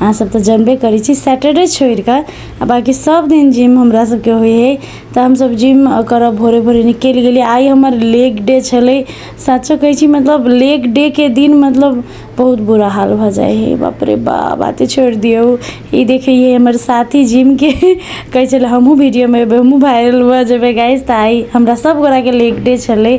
अहाँ सब तऽ जनबे करै छी सैटरडे छोड़ि कऽ आ बाँकी सब दिन जिम हमरा सबके होइ है तऽ हमसब जिम करऽ भोरे भोरे निकलि गेली आइ हमर लेग डे छलै साचो कहै छी मतलब लेग डे के दिन मतलब बहुत बुरा हाल भऽ जाइ है बाप रे बा बाते छोड़ि दियौ ई देखै है हमर साथी जिम के कहै छलै हमहुँ वीडियो मे एबै हमहुँ वायरल भऽ जेबै गाइस तऽ आइ हमरा सब गोरा के लेग डे छलै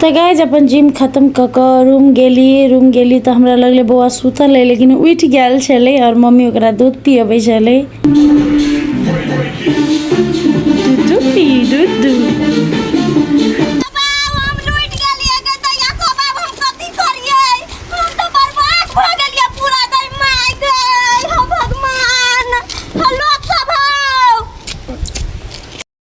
तऽ गाइज अपन जिम खत्म कऽ कऽ रूम गेली रूम गेली तऽ हमरा लगलै बौआ सुतल अइ लेकिन उठि गेल छलै आओर मम्मी ओकरा दूध पियबै छलै दूध पी दूध दूध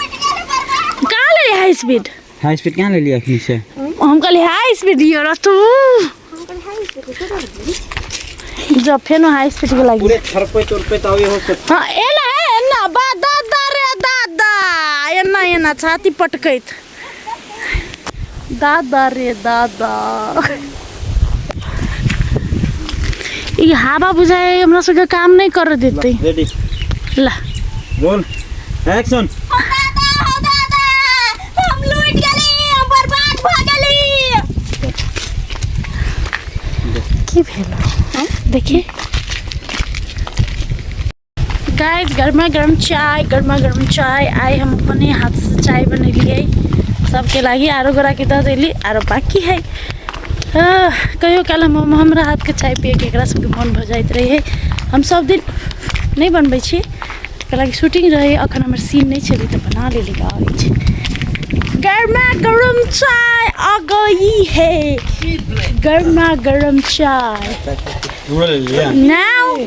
कहाँ ले हाई स्पीड हाई स्पीड कहाँ ले लिया अखनी से हम कहली हाई स्पीड यो र तू जब फेन हाई स्पीड के लागी पूरे थरपे तुरपे तावे हो से हाँ एना एना बा दादा रे दादा एना एना छाती पटकैत दादा रे दादा ई हवा बुझाए हमरा सबके काम नहीं कर देते रेडी ला रोल एक्शन ओ दादा हो दादा हम लूट गेली हम बर्बाद भ गेली की भेल देखिए गाइज गरमा गर्म चाय गरमा गर्म चाय आइ हम अपने हाथसँ चाय बनेलियै सभके लागि आरो गोराके दऽ देली आरो बाकी हइ कहियो काल हम हमरा हाथके चाय पियैके एकरा सभके मोन भऽ जाइत रहै हम सभ दिन नहि बनबै छी कलाकि शूटिंग रहै अखन हमर सीन नहि छलै तऽ बना लेली गाड़ी छै गरमा गरम चाय आ गई है गरमा गरम चाय नाउ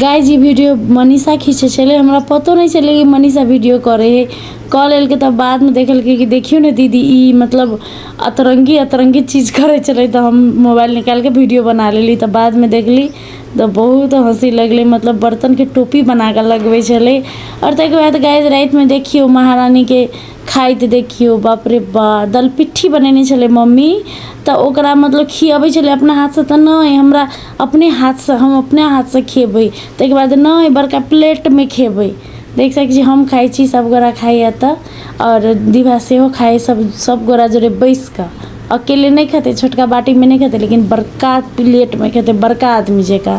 गाय जी वीडियो मनीषा खींचे छले हमरा पतो नहीं चले कि मनीषा वीडियो करे है कॉल एल के तब बाद में देखल के कि देखियो ने दीदी ई मतलब अतरंगी अतरंगी चीज करे चले तो हम मोबाइल निकाल के वीडियो बना लेली तब बाद में देखली तो बहुत हंसी लगले मतलब बर्तन के टोपी बना के लगवे छले और तक बाद गाय रात में देखियो महारानी के खाइत देखियौ बाप रे बा दलपिट्ठी बनेने छलै मम्मी तऽ ओकरा मतलब खियबै छलै अपना हाथसँ तऽ नहि हमरा अपने हाथसँ हम अपने हाथसँ खेबै ताहिके बाद नहि बड़का प्लेटमे खेबै देख सकै छी हम खाइ छी सभगोरा खाइए तऽ आओर दीभा सेहो खाइए सभ सभगोरा जरे बैसि कऽ अकेले नहि खेतै छोटका बाटीमे नहि खेतै लेकिन बड़का प्लेटमे खेतै बड़का आदमी जकाँ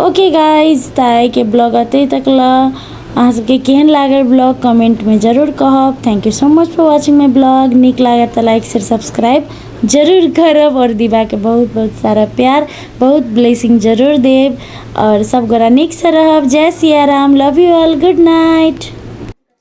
ओके गाइज तऽ आइके ब्लॉग एतहि तक लऽ अहाँ सबके केहन लागल ब्लॉग कमेंटमे जरूर कहब thank you so much for watching my blog नीक लागत तऽ लाइक शेयर सब्सक्राइब जरूर करब आओर दीवाके बहुत बहुत सारा प्यार बहुत ब्लेसिंग जरूर देब आओर सब गोरा नीकसँ रहब जय Siya Ram love you all good night